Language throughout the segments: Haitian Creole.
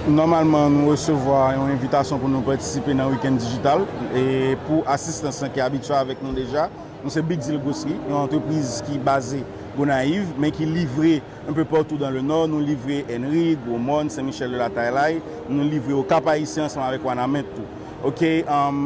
Nòmalman nou resevwa yon envitasyon pou nou patisipe nan Week-end Digital e pou asistans lan ki abitye avèk nou deja, nou se Big Deal Grocery, yon antrepriz ki baze Gonayiv men ki livre enpe patou dan le Nò, nou livre Ènri, Gwo Mòn, Sen Michèl de la Tayilay, nou livre Okap Ayisyen ansanm avèk Wanament tou. Ok,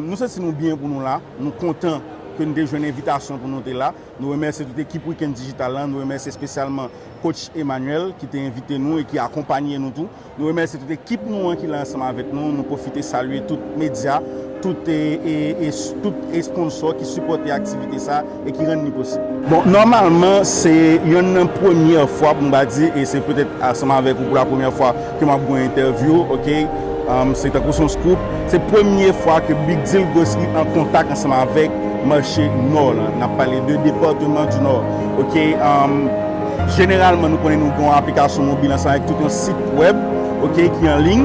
nou santi nou byen pou nou la, nou kontan ke nou te jwenn envitasyon pou nou te la. Nou remèsye tout ekip Week-end Digital la, nou remèsye espesyalman Coach Emmanuel ki te envite nou e ki akonpanye nou tou. Nou remèsye tout ekip nou an ki la ansanm avèk nou. Nou pwofite salye tout medya, tout tout esponnsò ki sipòte aktivite sa e ki rann li posib. Bon, nòmalman se yonn nan premyè fwa pou m ka di e se petèt ansanm avèk ou pou la premyè fwa Ke map gou entèvyou ok. Se tankou son scoop. Se premye fwa ke Big Deal Grocery an kontak ansanm avèk mache nò lan. Nap pale de departement du Nord ok. Jeneralman nou konnen nou gen yon aplikasyon mobil ansanm avèk tout yon sit wèb ok ki an liy.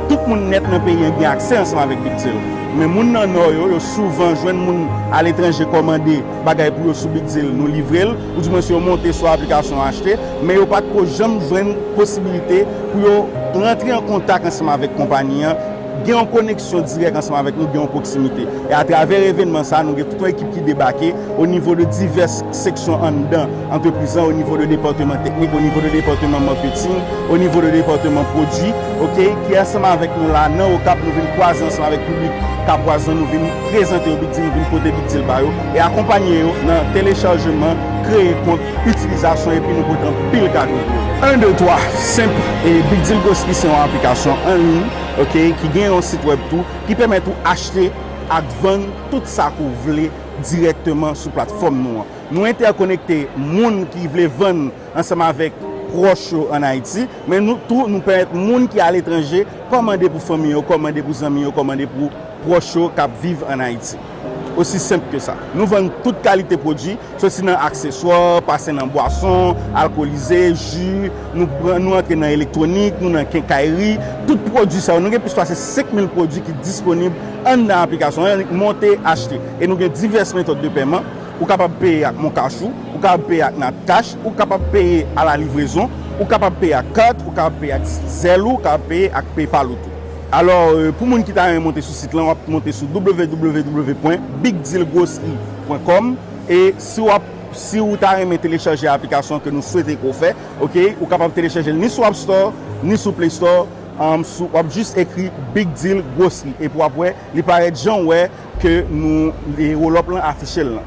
Tout moun nèt nan peyi an gen aksè ansanm avèk Big Deal. Men moun nan nò yo, yo souvan jwenn moun aletranje kòmande bagay pou yo sou Big Deal nou livrel. ou di mwens yo monte sou aplikasyon achte, men yo pa t ko janm jwenn posibilite pou yo rantre an kontak ansanm avèk konpani an, gen yon koneksyon dirèk ansanm avèk nou, gen yon pwoksimite. E atravè evènman sa a, nou gen tout yon ekip ki debake o nivo de divès seksyon anndan antrepriz lan, o nivo de depatman teknik, o nivo de depatman marketing, o nivo de depatman pwodui, ok, ki ansanm avèk nou la a nan Okap, nou vin kwaze ansanm avèk piblik Kapwaz lan, nou vin prezante yo Big Deal, nou vin pote Big Deal ba yo. E akonpanye yo nan telechajman, kreye kont, itilizasyon epi nou pote anpil kado pou yo. 1 2 3 Senp e Big Deal Grocery se yon aplikasyon anliy ok ki gen yon sit wèb tou ki pèmèt ou achte ak vann tout sa ke w vle dirèkteman sou platfòm nou an. Nou entèkonekte moun ki vle vann ansanm avèk pwòch yo an Ayiti men nou tou nou pèmèt moun ki aletranje kòmande pou fanmi yo, kòmande pou zanmi yo, kòmande pou pwòch yo k ap viv an Ayiti. Osi senp ke sa. Nou vann tout kalite pwodui, soti nan akseswa, pase nan bwason alkolize, ji, nou antre nan elektwonik, nou nan kenkayri. Tout pwodui sa yo, nou gen plis pase 5 mil pwodui ki disponib anndan aplikasyon an, monte, achte. E nou gen divès metòd de pèman, ou kapab peye ak moncash ou, ou kapab peye ak natcash, ou kapab peye a la livrezon, ou kapab peye ak kat, ou kapab peye ak Zelle ou kapab peye ak PayPal ou tou. Alò pou moun ki ta renmen monte sou sit lan wap monte sou www.bigdealgrocery.com e si wap si ou ta renmen telechaje aplikasyon an ke nou swete ke w fè ok ou kapab telechajel ni sou appstore ni sou playstore umm sou wap jis ekri bigdealgrocery epi wap wè li parèt jan w wè ke nou roll up lan afichel lan.